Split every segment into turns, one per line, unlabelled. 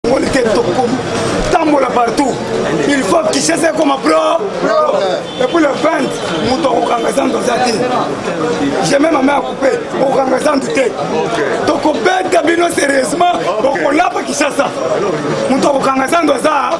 Congolais te tokomi tambola partout il faut kishasa ekoma pro epuis le 20 moto akokanga zandu aza te je meme ame akupe okokanga zandu te tokobeta bino sérieusement bokolapa kishasa moto akokanga zandu aza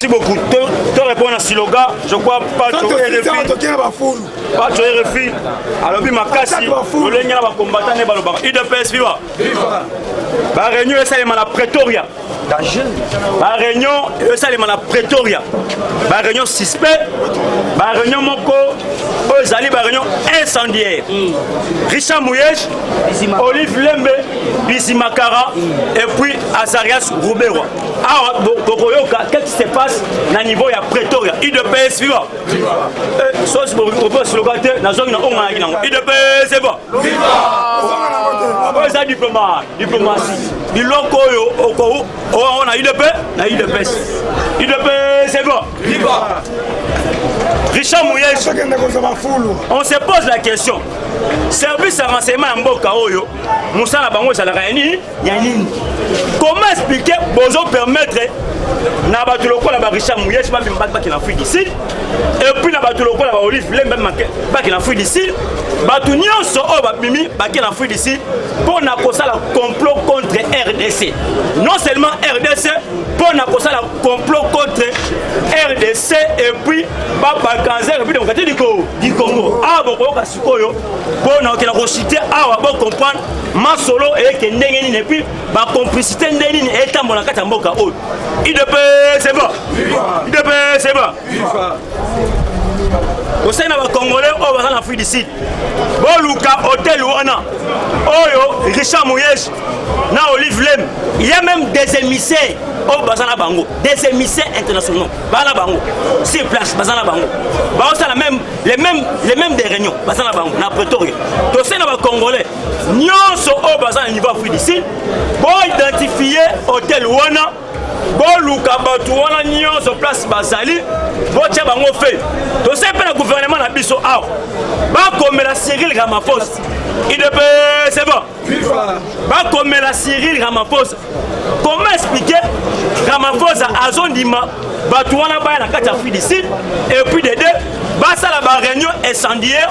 Merci beaucoup. Te répondre à Siloga, je crois pas que RFI. Pas que RFI. Alors bi makasi, le lenga ba combattant ne baloba. IDPS viva. Viva. Ba réunion esa le mala Pretoria. Danger. Ba réunion esa le mala Pretoria. Ba réunion suspect. Ba réunion moko oyo ezali ba réunion incendiaire. Mm. Richard Mouyesh, Olive Lembe, Bizimakara mm. et puis Azarias Ruberwa. awa tokoyoka qu'est-ce qui se passe na niveau ya pretoria udps viva eh, sosi bokoyoka slogan te nazongi na onganaki nango udps viva oyo eza diploma diplomatie biloko oyo okowo oh, oh, na udp na udps udps viva richard moyeji on se pose la question service ya renseignement ya mboka oyo mosala bango ezalaka ya nini ya nini comment expliquer bozo permettre na bato lokola ba richard muyes bamema baki bakenda afrique du sud epuis na bato lokola ba olive lembe bakenda afrique du sud bato nyonso oyo babimi bakenda afrique du sud mpo na kosala complot contre rdc non seulement rdc mpo na kosala complot contre rdc epuis babakanza république démocratique du congo awa bokoyoka sikoyo mpo na kokenda kosite awa bocomprendre masolo eke ndenge nini epuis bacomplicité ndenge nini etambola na kati ya mboka oyo idps eva idps eva osali na bacongolais oyo baza na afrique du sud boluka hotel wana oyo richard moyege na olive lem ya meme des émissaires oyo oh, baza na bango des émissaires internationaux baza na bango sur place baza na bango baosala même les mêmes les mêmes des réunions baza na bango na pretoria tosali na bacongolais nyonso oyo baza na niveau afrique du sud boidentifie hotel wana boluka bato wana nyonso place bazali botya bango fe tosai mpe na guvernema na biso awa bakomela cyril ramaphosa idps bon bakomela cyril ramaphosa comment expliquer ramaphosa azondima bato wana baya na kati ya afrique du sud et puis de deux basala baréunion incendiaire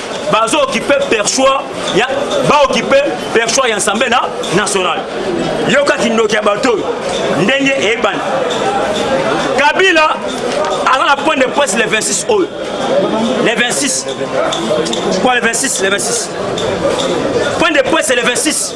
bazo okipe perchoir ya baokipe perchoir ya nsambe na national yoka kindoki ya bato oyo ndenge eyebani kabila aza na point de presse le 26 oyo le 26 quoi le 26 le 26 point de presse le 26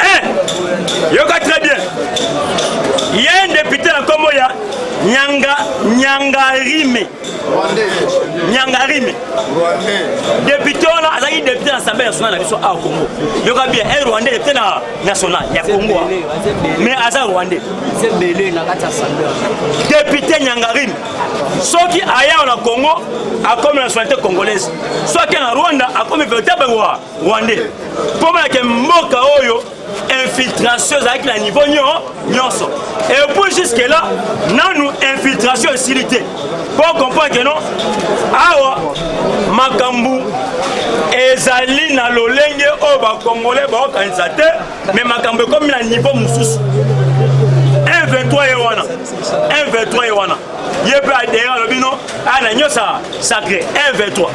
Eh, yoka très bien ye depute na nkombo ya nyanga nyangarime nyangarime depute wana azalaki depute na assemblée nationale na biso awa congo yoka bien e rwandais depute na national ya congo mais aza rwandais depute nyangarime soki ayawa na congo akomi nationalité congolaise soki na rwanda akomi véritable wa rwandais mpo balake mboka oyo infiltration ezalaki na niveau nyonso et puis jusque là nanu infiltration esili te mpo comprendre ke non awa makambo ezali na lolenge oyo bakongole baokanisa te me makambo ekomi na niveau mosusu 1 23 ye wana 1 23 ye wana ye mpe adere alobi no aya na nyosaka sacré 1 23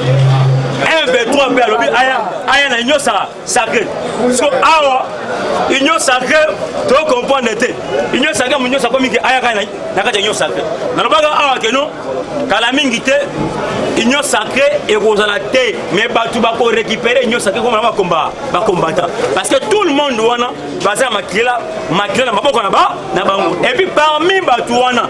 1 23 mpe alobi aya aya na nyosaka sacré so awa union sacré tocomprendre te union sacré mo nyonso akomi ke ayaka na kati ya union sacré nalobaka awa keno kala mingi te union sacré ekozala te mais bato bakorécupere union sacré komona bakomba bakombata parce que tout le monde wana baza ya makila makila na maboko na bango epuis parmi bato wana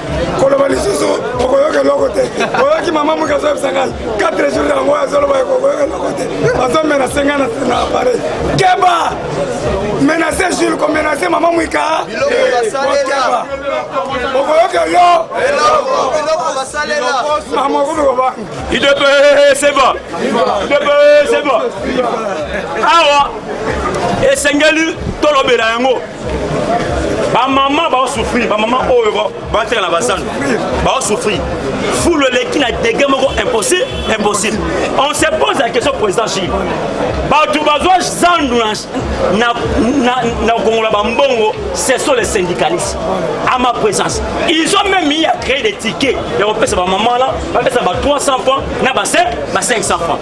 koloba lisusu okoyoka eloko te oyoki mama moke azoyebisa ngai 4 jour yango azoloba okoyoka eloko te azomenase ngai na apareil keba menase jule komenase mama mwika
keba
okoyoka yo
mama okomi kobanga
idp
seba idp seba awa esengeli tolobela yango bamama baosouffrir bamama oyo bateka na bazando baosouffrir fulu eleki na degre moko impossible impossible on se pose la question président gile bato bazwa zandu na kongola bambongo ce sont les syndicalistes à ma présence ils ont même mis à créer des tickets ya kopesa bamama wana bapesa ba 300 francs na ba 500 francs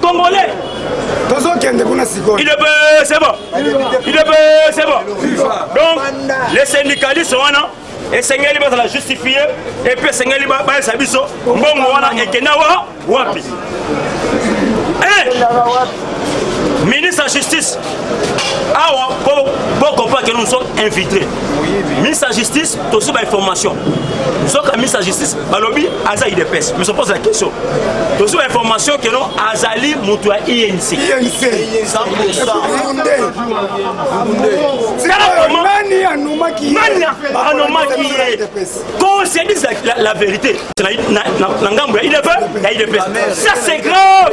Congolais tozokende kuna sikoyo il est peu c'est bon il est peu c'est bon donc les syndicalistes wana esengeli bazala justifie epuis esengeli bayesa biso mbongo wana ekenda wa wapi eh! ministre ya justice awa bokompake nous sommes infiltrés miss ya justice tozwi bainformation soka miss ya justice balobi aza idps mais opose la question tozwi bainformation keno azali moto ya inc nani anomaki ye qu'on se dise la vérité na ngambo ya idps ça c'est grave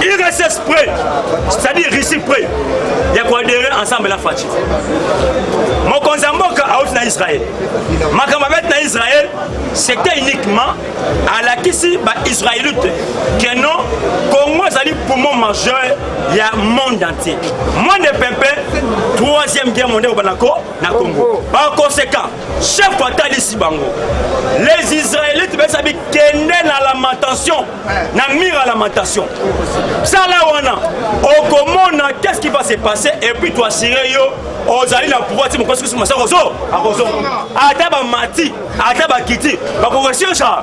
RSS prêt, c'est-à-dire Russie prêt ya koadere ensemble na Fatshi. Mokonzi ya mboka auti na Israël. Makambo abeti na Israël, c'était uniquement alakisi ba Israélite que non Congo ezali poumon majeur ya monde entier. Monde pempe, troisième guerre mondiale obana ko na Congo. Par conséquent, chef atalisi bango les israélites besa bikende na lamentation na mire ya lamentation sala wana okomona qu'est-ce qui va se passer et puis toassire yo ozali na pouvoir ti mokosi kusu masako zo akozonga ata bamati ata bakiti bakoresirsa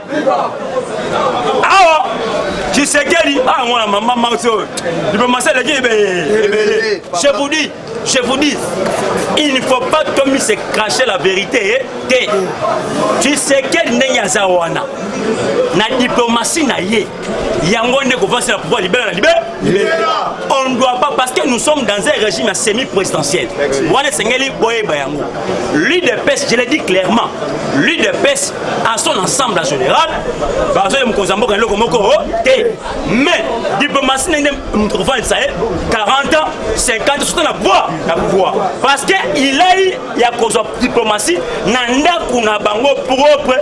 awa tshisekedi awa mwana mama mauti oyo diplomasi eleki ebele je vous dis je vous dis il ne faut pas tomi se cracher la vérité te tshisekedi ndenge aza wana na diplomasi na ye yango nde kovansa na pouvoir libela na libela on doit pas parce que nous sommes dans un régime ya semi présidentiel wana esengeli boyeba yango l'udps je le dis clairement l'udps en son ensemble en général bazoya mokonzi ya mboka na eloko moko oh, te mais diplomatie ndenge moto kofandisa ye 40 ans 50 soto na pouvoir na pouvoir parce que ilai ya kozwa diplomatie na ndako na bango propre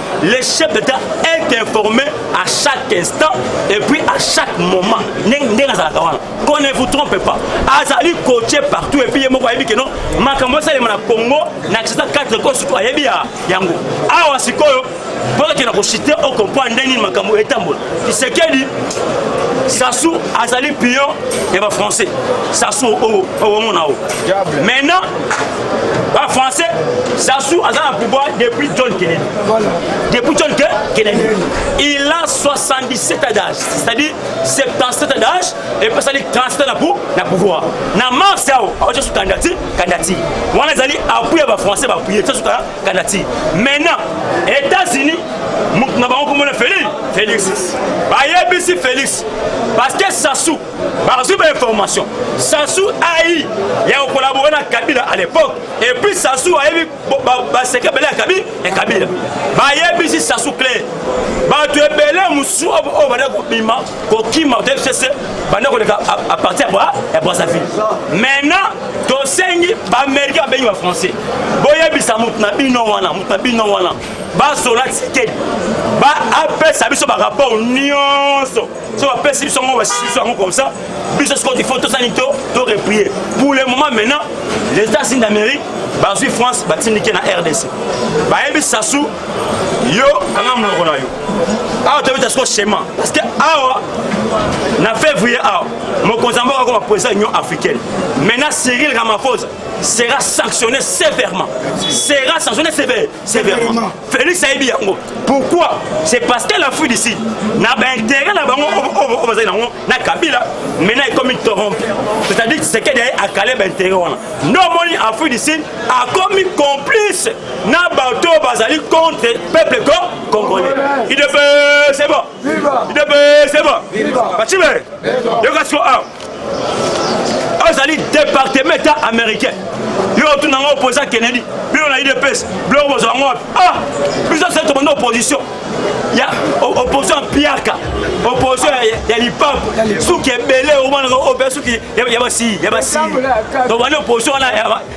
le chef d'état est informé à chaque instant et puis à chaque moment ndenge azalaka wana qu'on ne vous trompe pas azali coache partout et puis ye moko ayebi ke non makambo esalema na congo na accident 4 ko surtout ayebi yango awa sikoyo bokakenda kochite okomprendre ndenge nini makambo etambola kisekedi sasu azali pion ya bafrançais sasu owomona o maintenant ba français sasu aza na pouvoir depuis john kennedy voilà. depuis john Ke kennedy il a 77 ans d'âge c'est-à-dire 77 ans d'âge epesali 37 na pou na pouvoir na mars ao aotia su kandidati kandidati wana ezali appui ya bafrançais baapuye tia su kandidati maintenant états-unis moto na bango komona félix félix bayebisi félix parce que sasu bazwi ba information sasu ai ya kokolabore na kabila à l'époque et puis sasu ayebi baseke bele ya kabila ya kabila bayebisi sasu cle bato ebele mosusu oyo banda kobima kokima tfcc banda koleka à partir ya brazzaville maintenant tosengi baaméricain babengi bafrançais boyebisa moto na bino wana moto na bino wana bazola tike baapesa biso barapport nyonso so bapesi biso yango basisi biso yango comme ça biso sikoyo il faut tosani to to reprie pour le moment maintenant les états-unis d'amérique bazwi france batindike na rdc bayebi sasu yo kanga monoko na yo awa tobeta siko schéma parce que awa na février awa mokonzi yango akoma président union africaine maintenant cyril ramaphosa sera sanctionné sévèrement sera sanctionné sévère Sévèrement. Félix a dit yango. Pourquoi C'est parce que la fuite ici, na ba intérêt na bango au bazali nango na Kabila, maintenant il comme torompe. C'est-à-dire c'est que derrière a calé ba intérêt wana. No moni a fuite ici a commis complice na bato bazali contre peuple congolais. Il devait c'est bon. idebesema bacibe yoka siko awa ozali departement etat américain yo otuna yango opposant kennedy bino na idps biloko bozwa yango wapi ah biso se tobanda opposition ya opposition ya piaka opposition ya lipapu suki ebele omonaka obe suki ya basii ya basii tobanda opposition wana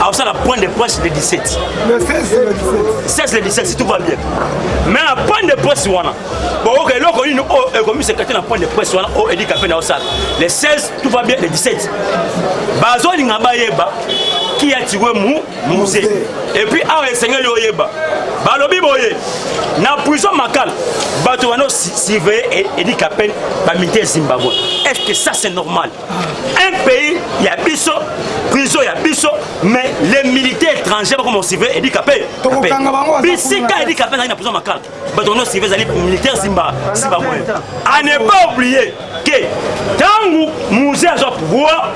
akosala point de presse le 17 le
16 le 17 16 le 17 si tout va
bien mais na point de presse wana boyoka eloko nini oyo oh, ekomisa kati na point de presse wana oyo oh, elika mpe na osala le 16 tout va bien le 17 bazolinga bayeba ki ya tiwe mu muse et puis awa esengeli oyeba balobi boye na prison makala bato wana surveille edika pene bamilitaire zimbabwe est ce que ça c'est normal un pays ya biso prison ya biso mais les militaires étrangers bakoma osive edi kape bisika edi kape ezali na prison makala bato wana osive ezali militaire simba simba moyo a ne pas oublier ke ntango musée azwa pouvoir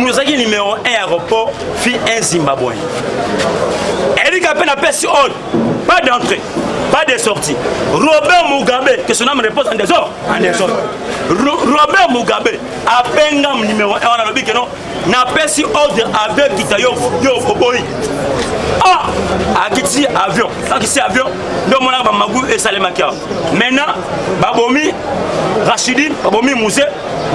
azalaki numéro 1 aéroport fi un zimbabwe edi kape na pesi oyo pas d'entrée pas de sortie robert mugabe que son âme repose en désordre en désordre Robert Mugabe abenga numéro 1 wana alobi keno napesi ordre avion ekita yo yo oboyi ah akitisi avion akitisi avion nde omonaka bamagu esalemaki awa maintenant babomi rachidine babomi muse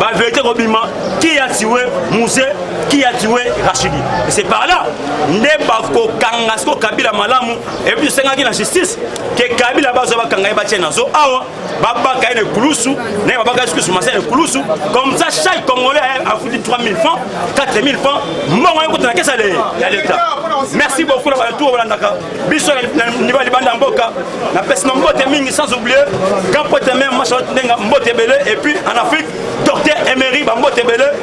baverité kobima qui a tiwe muse qui a tiwe rachidine c'est par là nde bakokanga siko kabila malamu epuis esengaki na justice ke kabila bazwa bakanga ye batie na zo awa babaka ye na ekulusu naye babaka ye soki sumasa na ekulusu comme ça chaque congolais afuti 3000 francs 4000 francs mbongo ye kota na kesa ya leta merci beaucoup na bato balandaka biso na niveau ya libanda ya mboka napesi na mbote mingi sans oublier grand pote meme machalot ndenga mbote ebele et puis en afrique docteur emery bambote ebele